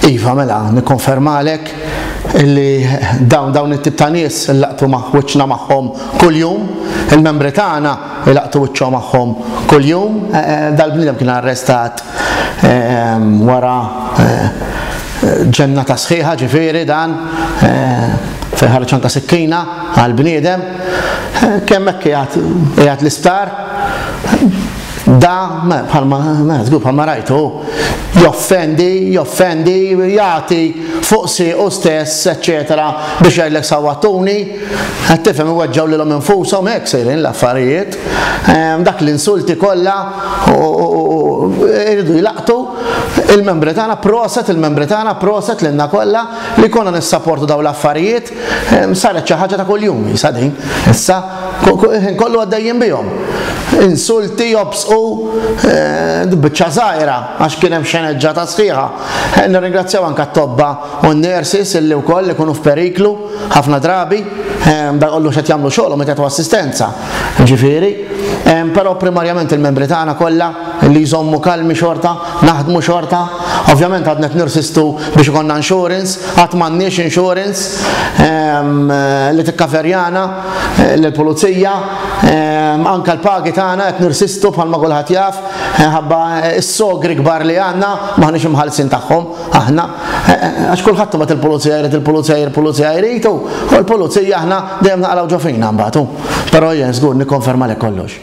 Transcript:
Iva, mela, nikkonfermalek li dawn dawn it-tip ta' nies il-laqtu ma' wiċċna magħhom kuljum, il-membri tagħna ilaqtu wiċċhom magħhom kuljum, eh, eh, dal-bniedem kien arrestat eh, wara ġenna ta' sħiħa ġifieri dan fejn ħarġ anke sikkina għal bniedem kemm hekk qiegħed l-isptar Dan, bħalma, żgur bħalma rajtu, joffendi, joffendi, jagħti fuq siequ stess, eċċetera, biex jgħidlek sawwattuni. Qed tifhem iweġġgħu lilhom infushom hekk sejrin l-affarijiet. Ehm, dak l-insulti kollha iridu jlaqtu il-membri tagħna proset, il-membri tagħna proset lilna kollha li konna nissaportu dawn l-affarijiet. Saret xi ħaġa ta' kuljum issa din. Issa ħin kollu għaddejjin bihom. Insulti jobsqu eh, biċċa żgħira għax kien hemm xeneġġa ta' sħiħa. Eh, nirringrazzjaw anke t-tobba u n-nurses illi wkoll ikunu f'periklu ħafna drabi eh, da kollu xed jagħmlu xogħol meta tu assistenza. Ġifieri, però primarjament il-membri tagħna kollha li jżommu kalmi xorta Naħdmu xorta? Ovvjament għadna qed nirsistu biex ikollna insurance, għad m'għandniex insurance ehm, li tikkaverjana eh, lill-pulizija, ehm, anke l-pagi tagħna qed nirsistu bħalma kulħadd jaf, eh, ħabba eh, s-sogri kbar li għandna m'aħniex imħallsin tagħhom aħna. Għax kulħadd tibgħat il-pulizija jrid il-pulizija jrid il-pulizija jrid u l-pulizija aħna dejjem naqalgħu ġo fina mbagħad. Però jien żgur nikkonferma lek kollox.